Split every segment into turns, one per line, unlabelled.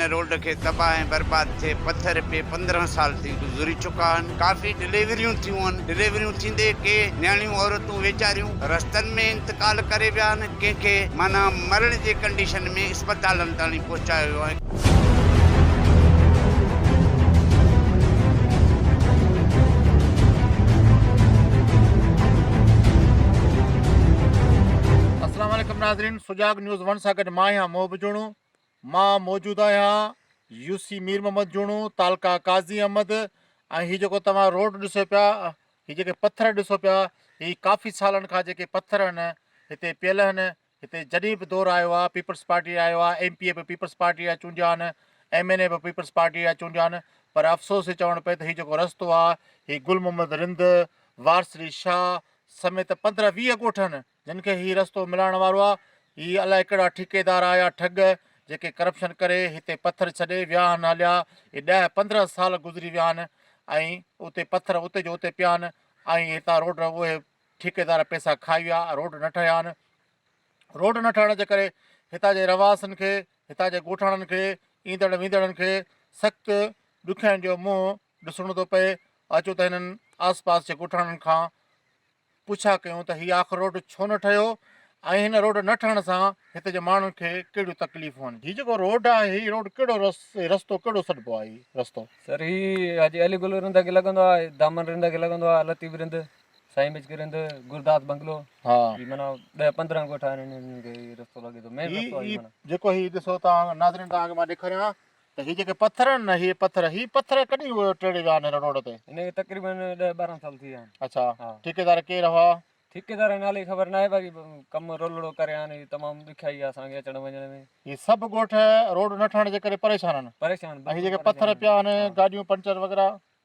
ان road کي تباھ ۽ برباد ٿئي پٿر پئي پندرهن سال ٿي گذري چڪا آھن ڪافي ڊليوريون ٿيون آھن ڊليوريون ٿيندي ڪي نياڻيون عورتون ويچاريون رستن ۾ انتقال ڪري ويا آھن ڪنھن کي معنيٰ مرڻ جي ڪنڊيشن ۾ اسپتالن تائڻي پهچايو ويو آھي.
السلام عليڪم ناظرين سجاڳ نيوز ون سان گڏ مان آهيان محب جوڻو مان موجود آهيان يو سي مير محمد جوڻو تعلقه قاضي احمد ۽ هي جيڪو توهان روڊ ڏسو پيا هي جيڪي پٿر ڏسو پيا هي ڪافي سالن کان جيڪي پٿر آهن هتي پيل آهن هتي جڏهن به دور آيو آهي پيپلز پارٽي آيو آهي ايم پي اي به پيپلز پارٽي جا چونڊيا آهن ايم اين اي به پيپلز پارٽي جا چونڊيا آهن پر افسوس هي چوڻ پئي ته هي جيڪو رستو آهي هي گل محمد رند وارسري شاهه سميت پندرهن ويهه ڳوٺن جن کي هي رستو ملائڻ وارو آ هي الائي ڪهڙا ٺيڪيدار آ يا ٺڳ جيڪي ڪرپشن ڪري هتي پٿر ڇڏي وياهن هليا اهي ڏهه پندرهن سال گذري وياهن ۽ اتي پٿر اتي جو اتي پيان ۽ هتان روڊ اهي ٺيڪيدار پيسا کائي ويا روڊ نه ٺهيا آهن روڊ نه ٺهڻ جي ڪري هتان جي رهواسين کي هتان جي ڳوٺاڻن کي ايندڙ ويندڙن کي سخت ڏکيائين جو منهن ڏسڻو ٿو پئي اچو ته هنن آس پاس جي ڳوٺاڻن کان پڇا ڪيون ته هي آخر روڊ ڇو نه ٺهيو ۽ هن روڊ نه ٺهڻ سان هتي جي ماڻهن کي ڪهڙيون تڪليفون آهن هي جيڪو روڊ آهي هي روڊ ڪهڙو رستو ڪهڙو سڏبو آهي هي رستو. سر هي حاجي
علي گل رند کي لڳندو آهي دامن رند کي لڳندو آهي لطيف رند سائين مچڪي رند گرداس بنگلو ها هي معنيٰ
ڏهه
پندرهن ڳوٺ آهن هنن کي هي رستو لڳي ٿو مين رستو آهي معنيٰ جيڪو هي ڏسو تان
ناظرين تان مان ڏيکاريان ته هي جيڪي پٿر آهن نه هي پٿر هي پٿر ڪڏهن اهي ٽيڙي ويا آهن هن روڊ تي؟ هن کي تقريبن ڏهه
ٻارهن سال ٿي ويا آهن. اڇا ها. ٺيڪيدار
ڪير
هئا؟
ٺيڪيدار جي نالي
خبر ناهي باقي ڪم رولڙو ڪري هان هي تمام ڏکيائي آهي اسان کي اچڻ وڃڻ ۾. هي سڀ ڳوٺ
روڊ نه ٺهڻ جي ڪري پريشان آهن. پريشان ۽ هي بلڪل جيڪي پريشان پٿر
آهن. پيا
آهن ها. گاڏيون پنچر وغيره.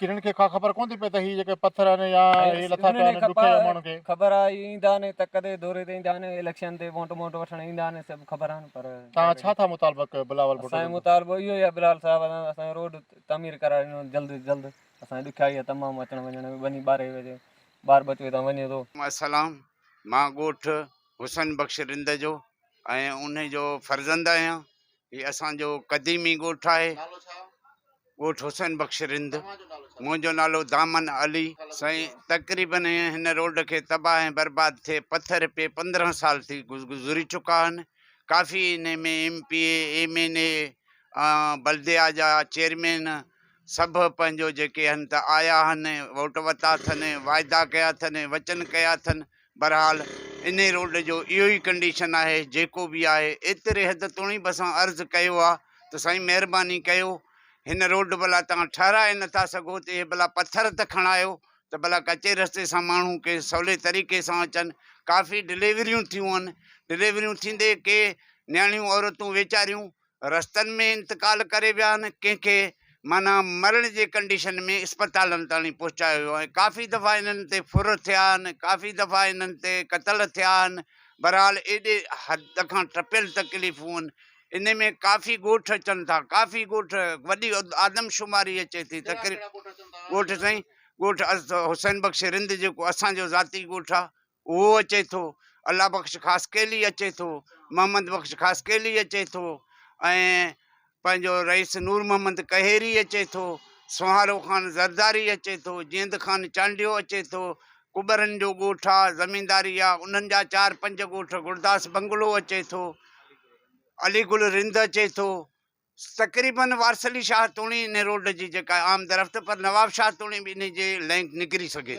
ڪنھن
کي اھا خبر ڪونھ ٿي پئي تھ ھي جيڪي پٿر آھن يا ھي لٿا پيا آھن ڏکيا يا ماڻھن کي. خبر آ اھي ايندا آھن
تھ ڪڏھن دوري تي ايندا آھن اليڪشن تي وونٽ ٻونٽ وٺڻ ايندا آھن سي بھ خبر آھن پر. توھان ڇا ٿا مطالبه
ڪيو بلاول ڀٽو سائين مطالبو اھو ئي آ
بلاول صاحب اسان اسان جو روڊ تعمير ڪرائي ڏنو ھجي جلد جلد اسان جي ڏکيائي آ تمام اچڻ وڃڻ ۾ وڃي ٻارھي بجي ٻار ٻچو ھتان وڃي ٿو. السلام
مان ڳوٺ حسن بخش رند جو ۽ انھي جو فرزند آھيان هي اسان جو قديمي ڳوٺ آهي. نالو ڇا؟ ڳوٺ حسين بخش رند. توهان جو نالو ڇا؟ منهنجو نالو دامن علي. سائين تقريبن هن روڊ کي تباهه ۽ برباد ٿئي پٿر پئي پندرهن سال ٿي گذري چڪا آهن. ڪافي انهي ۾ M P A, M N A ۽ بلديا جا چيئرمين سڀ پنهنجو جيڪي هن ته آيا آهن، ووٽ وتا اٿن، واعدا ڪيا اٿن، وچن ڪيا اٿن، بھرحال انھي روڊ جو اھو ئي ڪنڊيشن آھي جيڪو به آھي ايتري حد توڻي به اسان عرض ڪيو آ ته سائين مھرباني ڪيو ھن روڊ ڀلا توھان ٺھرائي نٿا سگھو ته اھي ڀلا پٿر ته کڻايو ته ڀلا ڪچي رستي سان ماڻھو ڪي سولي طريقي سان اچن ڪافي ڊليوريون ٿيون آھن ڊليوريون ٿيندي ڪي نياڻيون عورتون ويچاريون رستن ۾ انتقال ڪري ويا آهن، ڪنهن کي معنيٰ مرڻ جي ڪنڊيشن ۾ اسپتالن تائڻي پهچايو ويو آهي، ڪافي دفعا انهن تي ڦر ٿيا آهن، ڪافي دفعا انهن تي قتل ٿيا آهن، بهرحال ايڏي حد کان ٽپيل تڪليفون آهن، ان ۾ ڪافي ڳوٺ اچن ٿا، ڪافي ڳوٺ وڏي آدمشماري اچي ٿي، ڳوٺ سائين ڳوٺ حسين بخش رند جيڪو اسان جو ذاتي ڳوٺ آهي، اهو اچي ٿو، الله بخش خاصخيلي اچي ٿو، محمد بخش خاصخيلي اچي ٿو ۽ پنهنجو رئيس نور محمد ڪهيري اچي ٿو، سونهارو خان زرداري اچي ٿو، جيند خان چانڊيو اچي ٿو، ڪٻرن جو ڳوٺ آ، زمينداري آ، انهن جا چار پنج ڳوٺ، گروداس بنگلو اچي ٿو، علي گل رند اچي ٿو، تقريباً وارث علي شاهه توڻي انهي روڊ جي جيڪا عام درفت پر نواب شاهه توڻي به انهي جي لينڪ نڪري سگهي ٿي.